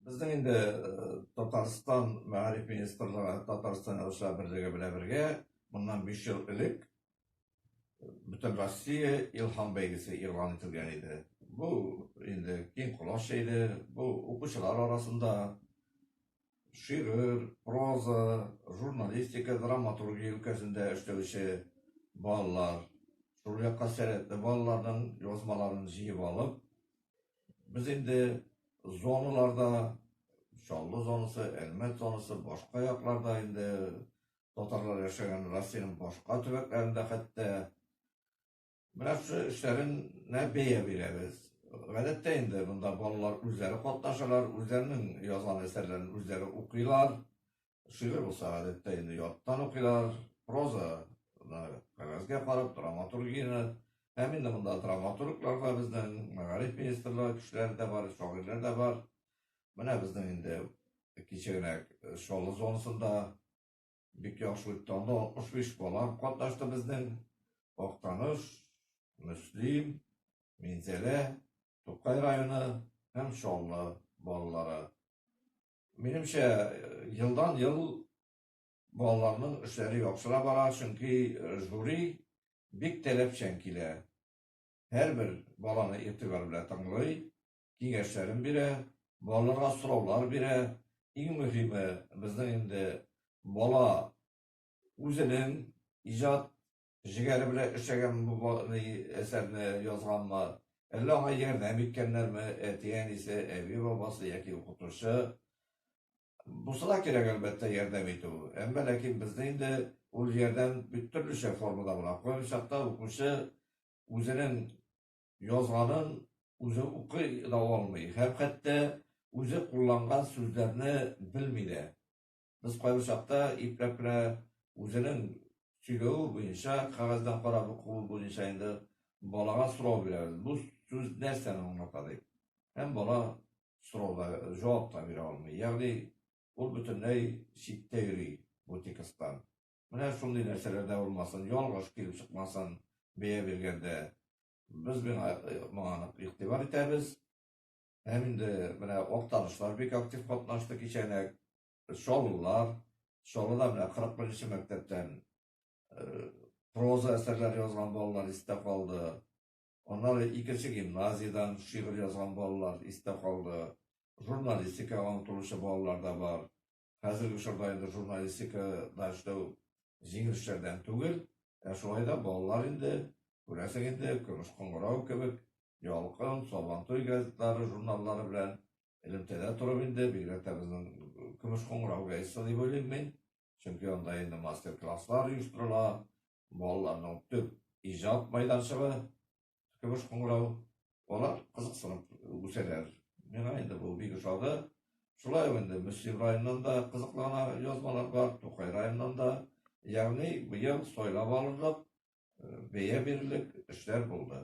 Безнең инде Татарстан Мәгариф министрлыгы Татарстан Язучылар берлеге белән бергә моннан биш ел элек Бөтенроссия Илһам бәйгесе игълан ителгән иде. Бу инде киң колач җәйде. Бу укучылар арасында шигырь, проза, журналистика, драматургия өлкәсендә эшләүче балалар, шул якка сәләтле балаларның язмаларын җыеп алып, Без инде зоналарда, Чаллы зонасы, Әлмәт зонасы, башка якларда инде татарлар яшәгән Россиянең башка төбәкләрендә хәтта менә шушы эшләренә бәя бирәбез. Гадәттә инде монда балалар үзләре катнашалар, үзләренең язган әсәрләрен үзләре укыйлар. Шигырь булса, гадәттә инде яттан укыйлар, проза кәгазьгә карап, драматургияне һәм инде монда драматурглар да безнең, мәгариф министрлыгы кешеләре дә бар, шагыйрьләр дә бар. Менә безнең инде кичә генә Чаллы зонасында бик яхшы үтте. Анда 65 бала катнашты безнең. Актаныш, Мөслим, Минзәлә, Тукай районы һәм Чаллы балалары. Минемчә, елдан-ел балаларның эшләре яхшыра бара, чөнки жюри бик таләпчән килә. Һәрбер баланы игътибар белән тыңлый, киңәшләрен бирә, балаларга сораулар бирә. Иң мөһиме, безнең инде бала үзенең иҗат Җегәре белән эшләгән бу бай әсәрне язганмы? Әллә аңа ярдәм иткәннәрме, әти-әнисе, әби-бабасы яки укытучы? Бусы да кирәк, әлбәттә, ярдәм итү. Әмма ләкин безне инде ул ярдәм бит төрлечә формада була. Күп чакта укучы үзенең язганын үзе укый да алмый һәм хәтта үзе кулланган сүзләрне белми дә. Без кайбер чакта ипләп кенә үзенең сөйләве буенча, кәгазьдән карап укуы буенча инде балага сорау бирәбез. Бу сүз нәрсәне аңлата дип. Һәм бала сорауда җавап та бирә алмый. Ягъни ул бөтенләй читтә йөри бу текстдан. Менә шундый нәрсәләр дә булмасын, ялгыш килеп чыкмасын бәя биргәндә. Без миңа, моңа нык игътибар итәбез. Һәм инде менә актанышлар бик актив катнашты кичәне. Чаллылар, Чаллыда менә 41-нче мәктәптән э, проза әсәрләре язган балалар истә калды. Аннары икенче гимназиядән шигырь язган балалар истә калды. Журналистикага омтылучы балалар да бар. хәзерге чорда инде журналистикада эшләү җиңел эшләрдән түгел, ә шулай да балалар инде, күрәсең инде, Көмеш кыңгырау кебек, Ялкын, Сабантуй газеталары, журналлары белән элемтәдә торып инде, бигрәк тә безнең Көмеш кыңгырау газетасы дип уйлыйм мин, чөнки анда инде мастер-класслар оештырыла, балаларның төп иҗат майданчыгы көмеш кыңгырау бала кызыксынып үсәләр. Миңа инде бу бик ошады. Шулай ук инде Мөслим районыннан да кызыклана язмалар бар, Тукай районыннан да. Ягъни быел сайлап алырлык, бәя бирерлек эшләр булды.